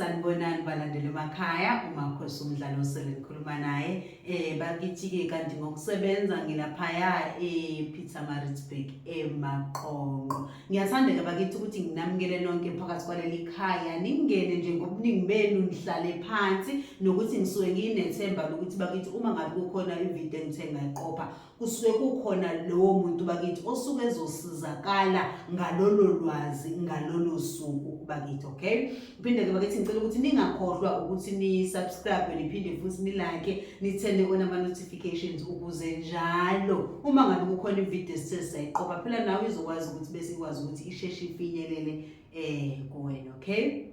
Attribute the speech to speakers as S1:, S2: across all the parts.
S1: sanibonani balandeli emakhaya umakhosi umdlalo osele ngikhuluma naye um bakithi-ke kanti ngokusebenza ngilaphaya e-peter maritzburg emaqonqo ngiyathanda-ke bakithi ukuthi nginamukele nonke phakathi kwaleli khaya ningene nje ngobuningi benu nihlale phansi nokuthi ngisuke ngiyinethemba lokuthi bakithi uma ngabe kukhona ividiyo engithe ngayiqopha kusuke kukhona lowo muntu bakithi osuke ezosizakala ngalolo lwazi ngalolo suku bakithi okay uphinde ke bakithi ngicela ukuthi ningakhohlwa ukuthi ni subscribe niphinde futhi ni like nithende kona ama notifications ukuze njalo uma ngabe kukhona ivideo esisesayiqopha phela nawe izokwazi ukuthi bese ikwazi ukuthi isheshe ifinyelele eh kuwena okay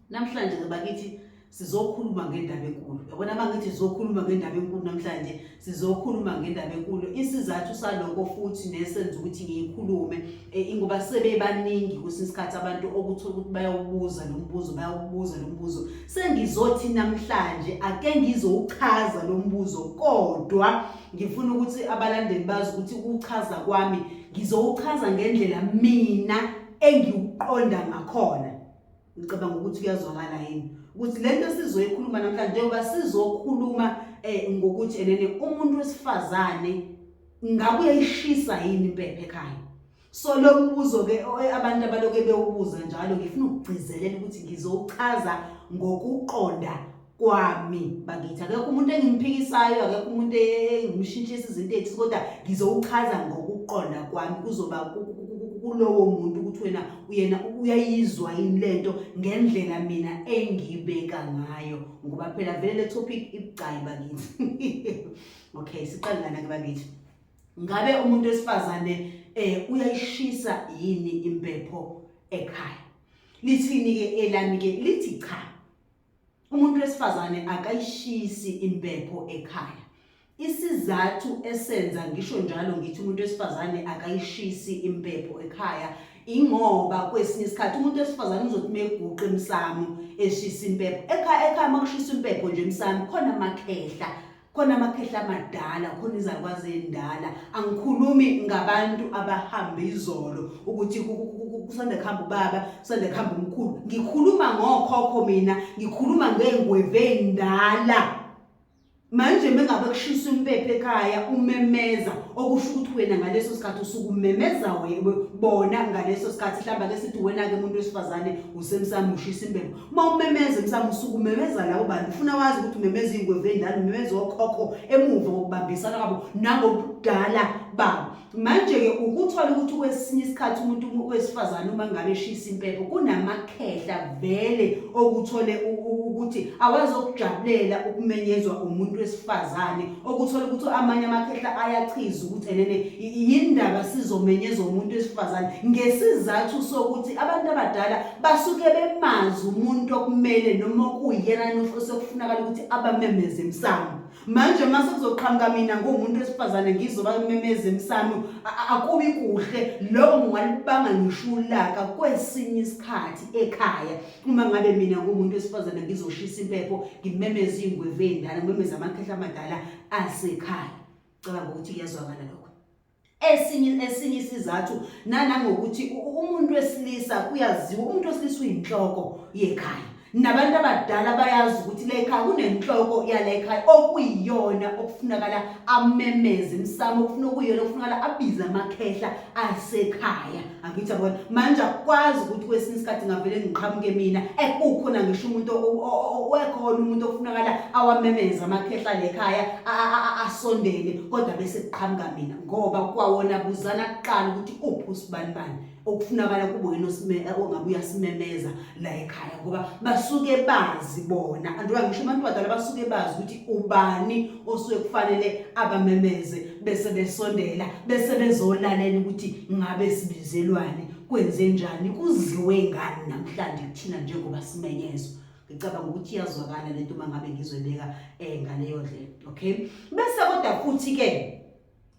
S1: Namhlanje ke bakithi sizokhuluma ngendaba enkulu yabona uma ngithi sizokhuluma ngendaba enkulu namhlanje sizokhuluma ngendaba enkulu isizathu saloko futhi nesenza ukuthi ngiyikhulume e, ingoba sebebaningi kwesinye isikhathi abantu okuthola ukuthi bayawubuza lo mbuzo bayawubuza lo mbuzo sengizothi namhlanje ake ngizowuchaza lo mbuzo kodwa ngifuna ukuthi abalandeli bazi ukuthi ukuchaza kwami ngizowuchaza ngendlela mina engiwuqonda ngakhona ngicabanga ukuthi kuyazwakala yini ukuthi lento sizoyikhuluma namhlanje njengoba sizokhuluma eh ngokuthi enene umuntu wesifazane ngabe uyayishisa yini impephe ekhaya so lokubuzo ke eh, abantu abaloke bewubuza njalo ngifuna ukugcizelela ukuthi ngizowuchaza ngokuqonda kwami bakithi akekho umuntu engimphikisayo akekho umuntu engimshintshisa izinto ethi kodwa ngizowuchaza ngokuqonda kwami kuzoba kulowo muntu ukuthi wena uyena uyayizwa yini lento ngendlela mina engibeka ngayo ngoba phela vele le topic ibucayi bakithi okay siqale lana ke bakithi ngabe umuntu wesifazane eh uyayishisa yini impepho ekhaya lithini ke elami ke lithi cha umuntu wesifazane akayishisi impepho ekhaya isizathu esenza ngisho njalo ngithi umuntu wesifazane akayishisi impepho ekhaya ingoba kwesinye isikhathi umuntu wesifazane uzothi meguqa emsamo eshisa impepho ekhaya ekhaya makushisa impepho nje emsamo khona amakhehla khona amakhehla amadala khona izalukwazi endala angikhulumi ngabantu abahambe izolo ukuthi kusanda kuhamba ubaba kusanda kuhamba umkhulu ngikhuluma ngokhokho mina ngikhuluma ngey'ngweve ey'ndala manje mengabe kushisa impepho ekhaya umemeza okusho ukuthi wena ngaleso sikhathi usuke umemeza bona ngaleso sikhathi hlamba ke sithi wena-ke umuntu wesifazane usemsami ushisa impepho uma umemeza emsamo usuke umemeza labo bantu ufuna wazi ukuthi umemeza iy'ngwevu endala umemeza okhokho emuva ngokubambisana kwabo nangobudala babo manje-ke ukuthola ukuthi kwesinye isikhathi umuntu wesifazane uma ngabe eshisa impepho kunamakhehla vele okuthole ukuthi awazokujabulela ukumenyezwa umuntu wesifazane okuthole ukuthi amanye amakhehla ayachiza ukuthi enene yindaba sizomenyezwa umuntu wesifazane ngesizathu sokuthi abantu abadala basuke bemazi umuntu okumele noma okuyena nofo sekufunakala ukuthi abamemeze emsamo manje uma sekuzoqhamuka mina nguwumuntu wesifazane ngizoba memeze emsamo akubi kuhle lokho ngingalibanga ngisho ulaka kwesinye isikhathi ekhaya uma ngabe mina nguwumuntu wesifazane ngizoshisa impepho ngimemeze iy'ngwevu ey'ndala ngimemeze amakhehla amadala asekhaya cabanga ukuthi kuyazwakala lokho esinye esinye isizathu nanangokuthi umuntu wesilisa kuyaziwa umuntu wesilisa uyinhloko yekhaya nabantu abadala bayazi ukuthi lekhaya kunenhloko yalekhaya okuyiyona okufunakala amemeze imsamo okufuna okuyiyona okufunakala abize amakhehla asekhaya angithi yabona manje akwazi ukuthi kwesinye isikhathi ngavele ngiqhamuke mina ekukhona ngisho umuntu wekhona umuntu ofunakala awamemeza amakhehla lekhaya asondele kodwa bese kuqhamuka mina ngoba kwawona buzana kuqala ukuthi uphi usibanibani okufunakala kubo yena eh, ongabe uyasimemeza la ekhaya ngoba basuke bazi bona andiwa ngisho abantu badala basuke bazi ukuthi ubani osuke kufanele abamemeze bese besondela bese bezolalela ukuthi ngabe sibizelwane kwenze njani kuziwe ngani namhlanje kuthina njengoba simenyezwa ngicabanga ukuthi iyazwakala lento uma ngabe ngizoyibeka um eh, ngaleyo ndlela okay bese kodwa futhi-ke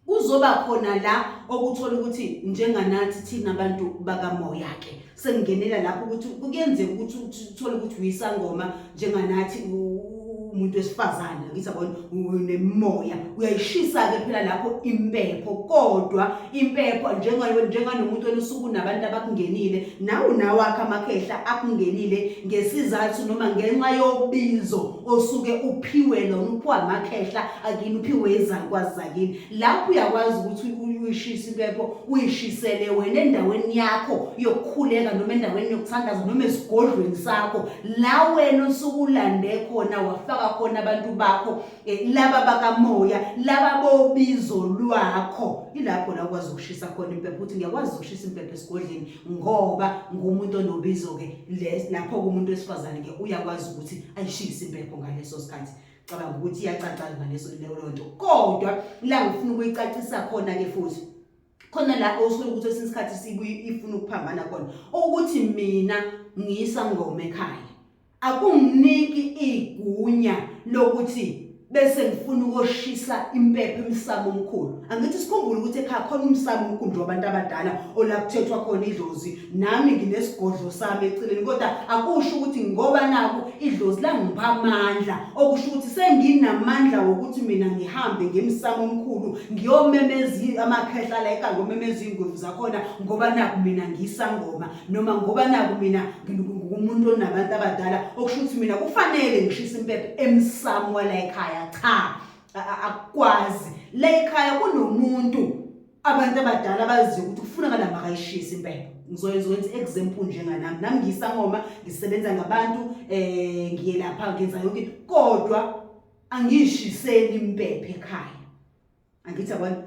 S1: kuzoba khona la okuthola ukuthi njenganathi thina abantu bakamoya-ke sengingenela lapho ukuthi kuyenzeka ukuthi uthole ukuthi uyisangoma njenganathi umuntu wesifazane ngithi abona unemimoya uyayishisa-ke phela lapho impepho kodwa impepho njenganomuntu wena usuku nabantu abakungenile nawe nawakhe amakhehla akungenile ngesizathu noma ngenxa yobizo osuke uphiwe lona uphiwa amakhehla akini uphiwe izalukwazi zakini lapho uyakwazi ukuthi uyishise impepho uyishisele wena endaweni yakho yokukhuleka noma endaweni yokuthandaza noma esigodlweni sakho la wena osuke ulande khona wafaka khona abantu bakho eh, laba bakamoya laba bobizo lwakho ilapho la ukwazi ukushisa khona impepho ukuthi ngiyakwazi ukushisa impepho esigodleni ngoba ngumuntu onobizo-ke lapho kumuntu wesifazane-ke uyakwazi ukuthi ayishise impepho ngaleso sikhathi cabanga ukuthi iyacaca ngaleso leyo nto kodwa la ngifuna ukuyicacisa khona-ke futhi khona la osolo ukuthi esinye isikhathi sibuye ifuna ukuphambana khona ukuthi mina ngiyisa ngoma ekhaya akunginiki igunya lokuthi bese ngifuna ukoshisa impepho emsamo omkhulu angithi sikhumbule ukuthi ekhaya khona umsamo omkhulu wabantu abadala olakuthethwa khona idlozi nami nginesigodlo sami eceleni kodwa akusho ukuthi ngoba naku idlozi langipha amandla okusho ukuthi senginamandla wokuthi mina ngihambe ngemsamo omkhulu ngiyomemezi amakhehla la ekhaya ngomemeza ingwevu zakhona ngoba naku mina ngisangoma noma ngoba naku mina ngumuntu onabantu abadala okusho ukuthi mina kufanele ngishise impepho emsamo wala ekhaya cha akwazi la ekhaya kunomuntu abantu abadala baziyo ukuthi kufunakala makayishise impepho ngizoyenza i-example njenganami nami ngiyisangoma ngisebenza ngabantu um eh, ngiye lapha ngenza yonke into kodwa angiyishiseli impepho ekhaya angithi abantu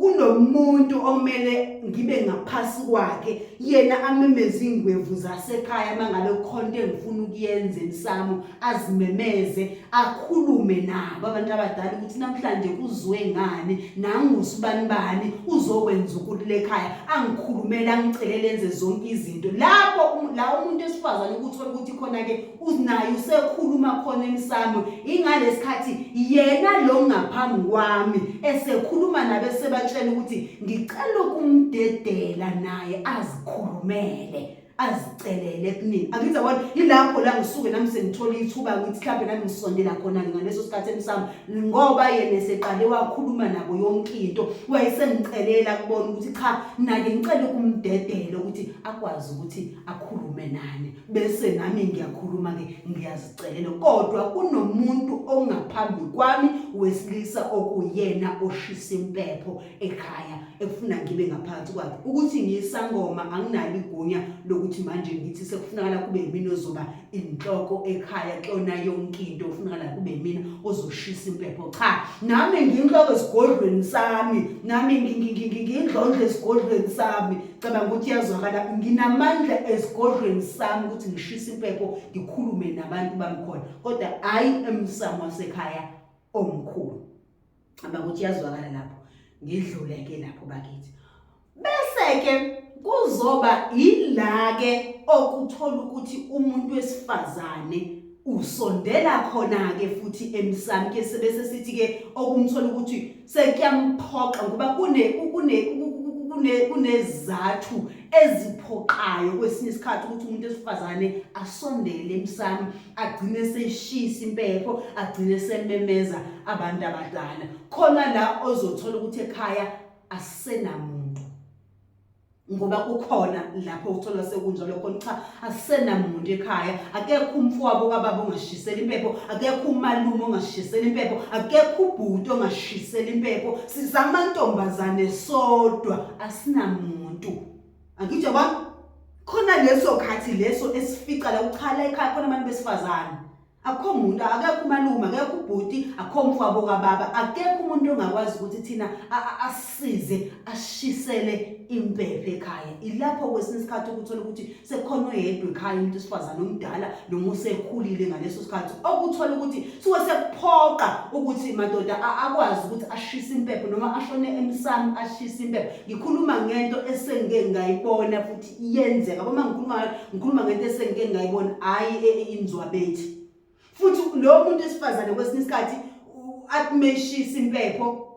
S1: kunomuntu omele ngibe ngaphasi kwakhe yena amemeza ingwevu zasekhaya mangabe khona engifuna ukuyenza emsamo azimemeze akhulume nabo abantu abadala ukuthi namhlanje kuzwe ngani nangusibanibani uzokwenza ukuthi lekhaya angikhulumele angicelele enze zonke izinto lapho um, la umuntu esifazane ukuthola ukuthi khona ke unaye usekhuluma khona emsamo ingalesikhathi yena lo ngaphambi kwami esekhuluma nabe sebatshela ukuthi ngicela ukumdedela naye azikhulumele azicelele kunini angithi yabona yilapho la ngisuke nami sengithola ithuba ngithi mhlawumbe nami ngisondela khona ngaleso sikhathi emsamo ngoba yena eseqale wakhuluma nabo yonke into wayesengicelela kubona ukuthi cha nake ngicele kumdedela ukuthi akwazi ukuthi akhulume nani bese nami ngiyakhuluma ke ngiyazicelela kodwa kunomuntu ongaphambi kwami wesilisa okuyena oshisa impepho ekhaya ekufuna ngibe ngaphansi kwakhe ukuthi ngiyisangoma anginalo igunya lokuthi manje ngithi sekufunakala kube yimina ozoba inhloko ekhaya kuyona yonke into kufunakala kube yimina ozoshisa impepho cha nami ngiyinhloko esigodlweni sami nami ngiyindlondlo esigodlweni sami cabanga ukuthi yazwakala nginamandla esigodlweni sami ukuthi ngishise impepho ngikhulume nabantu bamkhona kodwa hayi emsamo wasekhaya omkhulu aba ukuthi yazwakala lapho ngidlule ke lapho bakithi bese ke kuzoba ilake okuthola ukuthi umuntu wesifazane usondela khona ke futhi emsami ke sebese sithi ke okumthola ukuthi sekuyamphoqa ngoba kune kune kune kunezathu eziphoqayo kwesinye isikhathi ukuthi umuntu esifazane asondele emsami agcine seshisa impepho agcine sememeza abantu abadala khona la ozothola ukuthi ekhaya asenamuntu ngoba kukhona lapho uthola sekunjalo khona cha asenamuntu ekhaya akekho umfowabo kababa ongashisela impepho akekho umalume ongashisela impepho akekho ubhuti ongashisela impepho sizamantombazane sodwa asinamuntu angitsho ba khona leso khathi leso esifica la uchala ekhaya khona abantu besifazane akho muntu akekho umalume akekho ubhuti akho mfabo kababa akekho umuntu ongakwazi ukuthi thina asize ashisele impephe ekhaya ilapho kwesinye isikhathi ukuthola ukuthi sekhona oyedwa ekhaya umuntu esifazane omdala noma usekhulile ngaleso sikhathi okuthola ukuthi suke sekuphoqa ukuthi madoda akwazi ukuthi ashise impepho noma ashone emsamo ashise impepho ngikhuluma ngento esengike ngayibona futhi iyenzeka uma ngikhuluma ngikhuluma ngento esengike ngayibona hayi e, e, inzwabethi futhi lo muntu esifazane kwesinye isikhathi akumeshisa impepho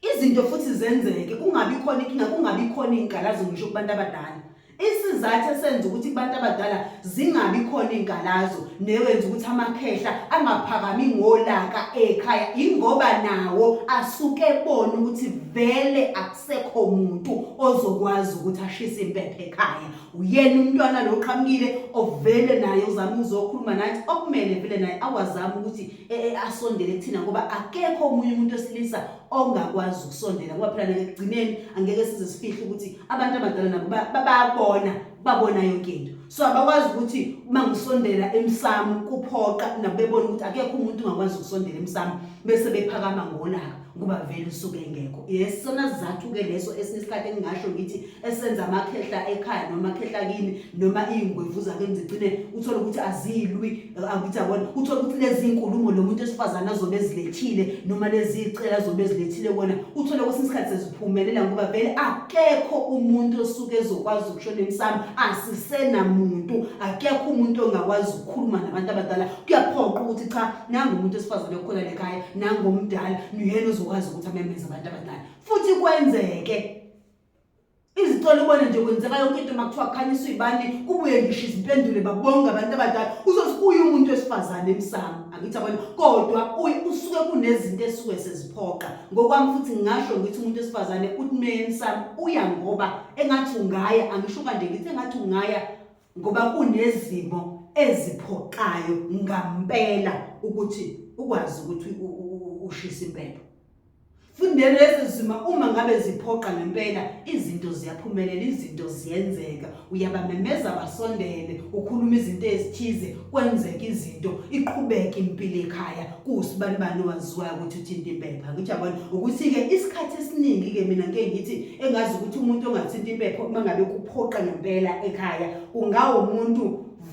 S1: izinto futhi zenzeke kungabi khona inkinga kungabi khona izinkalazo ngisho kubantu abadala Isizathu esenza ukuthi kubantu abadala zingabi khona izinkalazo newenza ukuthi amakhehla angaphakami ngolaka ekhaya ingoba nawo asuke ebona ukuthi vele akusekho muntu ozokwazi ukuthi ashise impepho ekhaya uyena umntwana lo qhamukile ovele naye uzama uzokhuluma nathi okumele vele naye awazama ukuthi e, e, asondele kuthina ngoba akekho omunye umuntu osilisa ongakwazi ukusondela ngoba phela nekugcineni angeke size sifihle ukuthi abantu abadala nabo babona babona yonke into so abakwazi ukuthi uma ngisondela emsamo kuphoqa nabo bebona ukuthi akekho umuntu ongakwazi ukusondela emsamo bese bephakama ngolaka kuba vele usuke engekho yesona sizathu-ke leso esinye isikhathi engingasho ngithi esenza amakhehla ekhaya noma amakhehla kini noma iy'ngwevu zakeni zigcine uthole ukuthi azilwi akuthi abona uthole ukuthi lezi nkulumo lo muntu esifazane azobe ezilethile noma lezi cela azobe ezilethile kona uthole kwesinye isikhathi seziphumelela ngoba vele akekho umuntu osuke ezokwazi ukushona emsamo asisenamuntu akekho umuntu ongakwazi ukukhuluma nabantu abadala kuyaphoqa ukuthi cha nangu umuntu esifazane okhona lekhaya nangu omdala nuyena uzokwazi ukuthi amemeze abantu abadala futhi kwenzeke izicelo ubona nje kwenzeka yonke into makuthiwa kukhanyiswa ibani kubuye ngisho izimpendulo babonga abantu abadala uzosibuye umuntu wesifazane emsamo angithi abona kodwa usuke kunezinto esuke seziphoqa ngokwami futhi ngingasho ngithi umuntu wesifazane uthi meyemsamo uya ngoba engathi ungaya angisho kanje ngithi engathi ungaya ngoba kunezimo eziphoqayo ngampela ukuthi ukwazi ukuthi ushisa impepho fundeni lezi zima uma ngabe ziphoqa ngempela izinto ziyaphumelela izinto ziyenzeka uyabamemeza basondele ukhuluma izinto ezithize kwenzeka izinto iqhubeke impilo ekhaya kusibani bani owaziwayo ukuthi uthinta impepha ngijabona ukuthi-ke isikhathi esiningi-ke mina ngike ngithi engazi ukuthi umuntu ongathinta impepha uma ngabe kuphoqa ngempela ekhaya ungawumuntu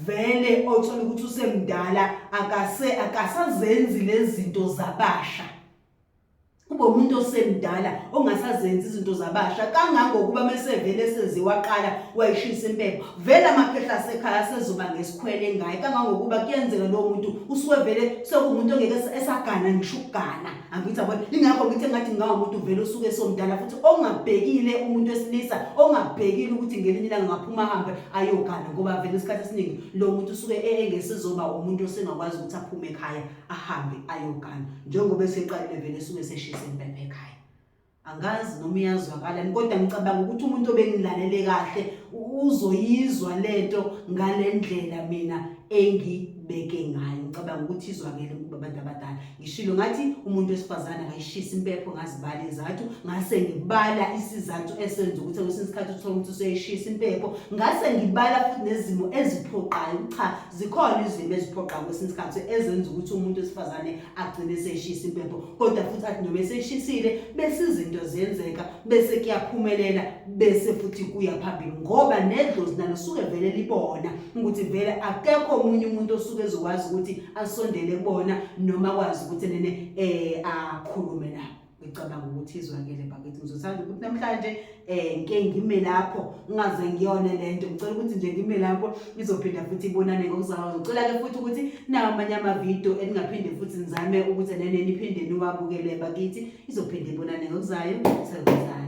S1: vele othola ukuthi usemdala akase akasazenzi lezi zinto zabasha kube umuntu osemdala ongasazenzi izinto zabasha kangangokuba mesevele seziwaqala wayishisa impepho vele amaphehla asekhaya asezoba ngesikhwele ngaye kangangokuba kuyenzeka lowo muntu usuke vele sekuwumuntu ongeke esagana ngisho ukugana angithi abona ingakho ngithi ngathi ngawumuntu vele usuke esomdala futhi ongabhekile umuntu wesilisa ongabhekile ukuthi ngelinye ilanga ngaphuma hambe ayogana ngoba vele isikhathi esiningi lo muntu usuke e-, engesizoba umuntu osengakwazi ukuthi aphume ekhaya ahambe ayogana njengoba eseqalile vele esuke seshise impepha ekhaya angazi noma iyazwakalani kodwa ngicabanga ukuthi umuntu obengilalele kahle uzoyizwa lento ngale ndlela mina engibeke ngayo ngicabanga ukuthi izwakele kuba abantu abadala ngishilo ngathi umuntu wesifazane akayishisa impepho ngazibala izathu ngase ngibala isizathu esenza ukuthi kwesinye isikhathi uthole ukuthi useyishisa impepho ngase ngibala futhi nezimo eziphoqayo cha zikhona izimo eziphoqayo kwesinye isikhathi ezenza ukuthi umuntu wesifazane agcine eseshisa impepho kodwa futhi athi noma eseshisile bese izinto ziyenzeka bese kuyaphumelela bese futhi kuya phambili ngoba nedlozi nalo suke vele libona ukuthi vele akekho omunye umuntu osuke ezokwazi ukuthi asondele kubona noma kwazi ukuthi nene eh akhulume nabo ngicabanga ukuthi izwakele bakithi ngizothanda ukuthi namhlanje um ngike ngime lapho ngingaze ngiyone le nto ngicela ukuthi nje ngime lapho izophinda futhi ibonane ngokuzalwa ngicela-ke futhi ukuthi nawo amanye amavidiyo eningaphinde futhi nizame ukuthi nene niphinde niwabukele bakithi izophinde ibonane ngokuzayo sekuzane